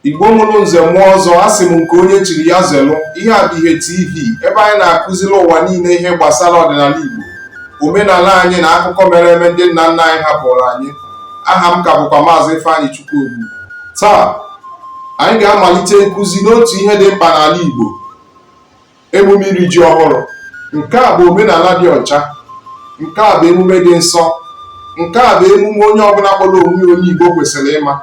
Igbo mụrụ nze mụọ ọzọ asị m nke onye chiri ya zelụ ihe a bụ ihe TV ebe anyị na-akụziri ụwa niile ihe gbasara ọdịnala Igbo omenala anyị na akụkọ mere eme ndị nna nna anyị hapụrụ anyị aha m ka bụkwa maazị Ifeanyịchukwu Obu taa anyị ga-amalite nkụzi n'otu ihe dị mkpa n'ala Igbo emume iri ji ọhụrụ nke a bụ omenala dị ọcha nke a bụ emume dị nsọ nke a bụ emume onye ọbụla kpọrọ onwe onye Igbo kwesịrị ịma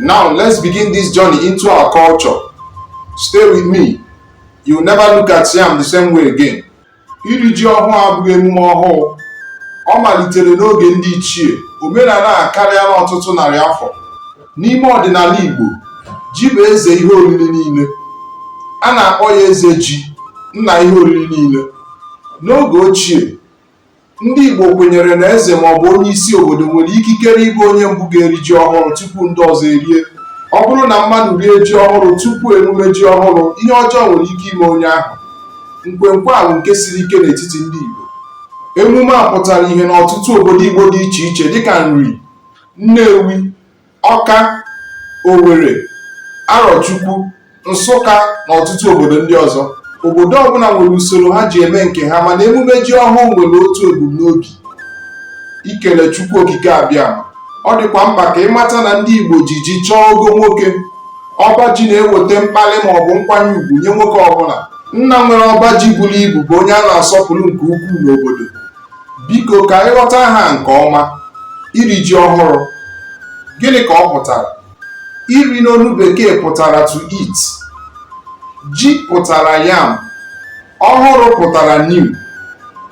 now let's begin this journey into our culture stay with me you never look at yam the same way again iri ji ọhụrụ abụghị emume ọhụụ ọ malitere n'oge ndị ichie omenala a karịala ọtụtụ narị afọ n'ime ọdịnala Igbo ji bụ eze ihe oriri niile a na-akpọ ya eze ji nna ihe oriri niile n'oge ochie ndị Igbo kwenyere na eze ma ọ bụ onye isi obodo nwere ikikere ịbụ onye mbụ ga-eri ji ọhụrụ tupu ndị ọzọ erie ọ bụrụ na mmadụ rie ji ọhụrụ tupu emume ji ọhụrụ ihe ọjọọ nwere ike ime onye ahụ nkwenkwe a bụ nke siri ike n'etiti ndị Igbo emume a pụtara ihe n'ọtụtụ obodo Igbo dị iche iche dịka Nri Nnewi, Ọka, Owere, Arọchukwu, Nsụka na ọtụtụ obodo ndị ọzọ. Obodo ọbụla nwere usoro ha ji eme nke ha mana emume ji ọhụụ nwere otu ebumnobi, ikele Chukwu Okike Abịama. Ọ dịkwa mkpa ka ị mata na ndị Igbo ji ji chọọ ogo nwoke. Ọba ji na-eweta mkpalị maọbụ nkwanye ugwu nye nwoke ọbụla. Nna nwere ọba ji buru ibu bụ onye a na-asọpụrụ nke ukwuu n'obodo. Biko ka anyị ghọta ha nke ọma, iri ji ọhụrụ, gịnị ka ọ pụtara? Iri n'olu bekee pụtara to eat, ji pụtara yam, ọhụrụ pụtara new,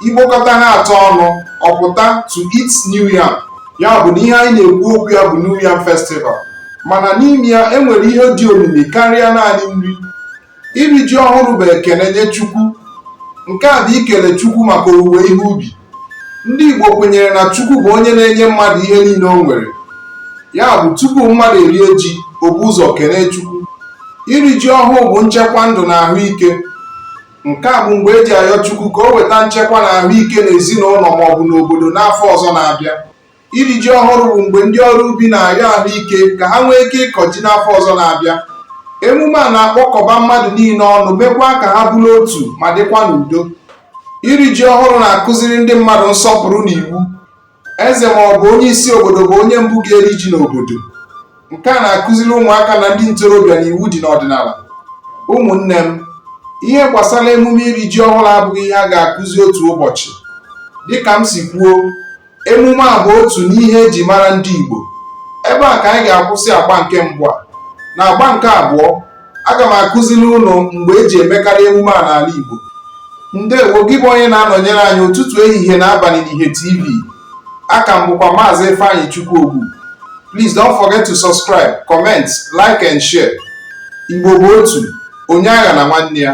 i kpokọta ha atọ ọnụ ọ pụta to eat new yam. Ya bụ na ihe anyị na-ekwu okwu ya bụ new yam festival mana n'ime ya e nwere ihe dị omimi karịa naanị nri. iri ji ọhụrụ bụ ekele nye Chukwu nke a bụ ikele Chukwu maka owuwe ihe ubi ndị Igbo kwenyere na Chukwu bụ onye na-enye mmadụ ihe niile o nwere ya bụ tupu mmadụ erie ji o bu ụzọ kelee Chukwu iri ji ọhụụ bụ nchekwa ndụ na ahụike nke a bụ mgbe e ji ayọ Chukwu ka o weta nchekwa na ahụike n'ezinụlọ maọbụ n'obodo n'afọ ọzọ na-abịa Iri ji ọhụrụ bụ mgbe ndị ọrụ ubi na-ayọ ahụike ka ha nwee ike ịkọ ji n'afọ ọzọ na-abịa. Emume a na-akpọkọba mmadụ niile ọnụ mekwa ka ha bụrụ otu ma dịkwa n'udo. Iri ji ọhụrụ na-akụziri ndị mmadụ nsọpụrụ na iwu. Eze ma ọ bụ onye isi obodo bụ onye mbụ ga-eri ji n'obodo. Nke a na-akụziri ụmụaka na ndị ntorobịa na iwu dị n'ọdịnala. Ụmụnne m, ihe gbasara emume iri ji ọhụrụ abụghị ihe a ga-akụzi otu ụbọchị. Dịka m si kwuo, emume a bụ otu n'ihe eji mara ndị Igbo ebe a ka anyị ga-akwụsị agba nke mbụ a na agba nke abụọ aga m akụziri unu mgbe eji emekarị emume a n'ala Igbo ndewo gị bụ onye na-anọnyere anyị ụtụtụ ehihie na abalị n'ihe TV aka m bụkwa maazị Ifeanyịchukwu Ogbu please don't forget to subscribe comment like and share Igbo bụ otu onye aghana nwanne ya